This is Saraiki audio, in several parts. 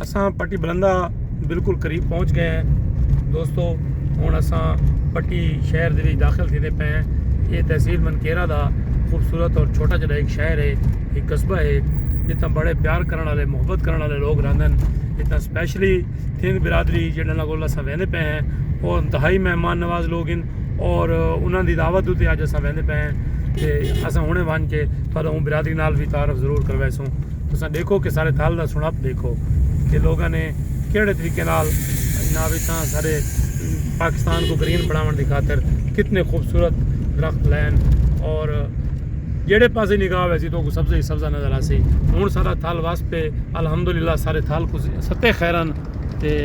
اساں پٹی بلندہ بالکل قریب پہنچ گئے ہیں دوستو ہوں اساں پٹی شہر دے وچ داخل تھیندے پے ہیں یہ تحصیل منکیرا دا خوبصورت اور چھوٹا جڑا ایک شہر ہے ایک قصبہ ہے جتنا بڑے پیار کرنے والے محبت کرنے والے لوگ رہندن جتنا اسپیشلی تھنگ برادری جڑا نہ گول اساں ویندے پے ہیں اور انتہائی مہمان نواز لوگ ہیں اور انہاں دی دعوت تے اج اساں ویندے پے ہیں تے اساں ہنے ونج کے پہلے ہوں برادری نال وی تعارف ضرور کرویسوں تساں ڈیکھو کہ سارے تھل دا سنڑپ ڈیکھو کہ لوگاں نے کیڑے طریقے نال جناب اتھاں سارے پاکستان کو گرین بناون دی خاطر کتنے خوبصورت درخت لین اور جیڑے پاسے نگاہ ویسی تو کو سبزہ ہی سبزہ نظر آسی ہن سارا تھل وس پے الحمدللہ سارے تھل کو ستے خیرن تے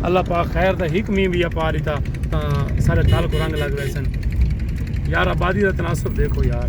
اللہ پاک خیر دا ہک مین بھی اپا دیتا تاں سارے تھل کو رنگ لگ ویسن یار آبادی دا تناسب دیکھو یار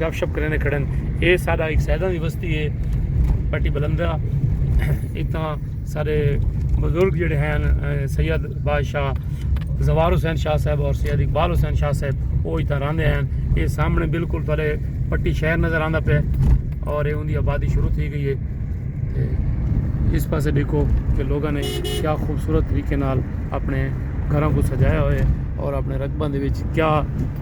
گپ شپ کریندے کھڑن اے ساڈا ہک سیداں دی وستی اے پٹی بلندہ اتھاں سارے بزرگ جڑے ہیں سید بادشاہ زوار حسین شاہ صاحب اور سید اقبال حسین شاہ صاحب او اتھاں راندے ہیں اے سامنے بالکل تھلے پٹی شہر نظر آندا پے اور اے اوندی آبادی شروع تھی گئی اے تے اس پاسے دیکھو کہ لوگاں نے کیا خوبصورت طریقے نال اپنے گھراں کو سجایا ہوئے اور اپنے رقباں دے وچ کیا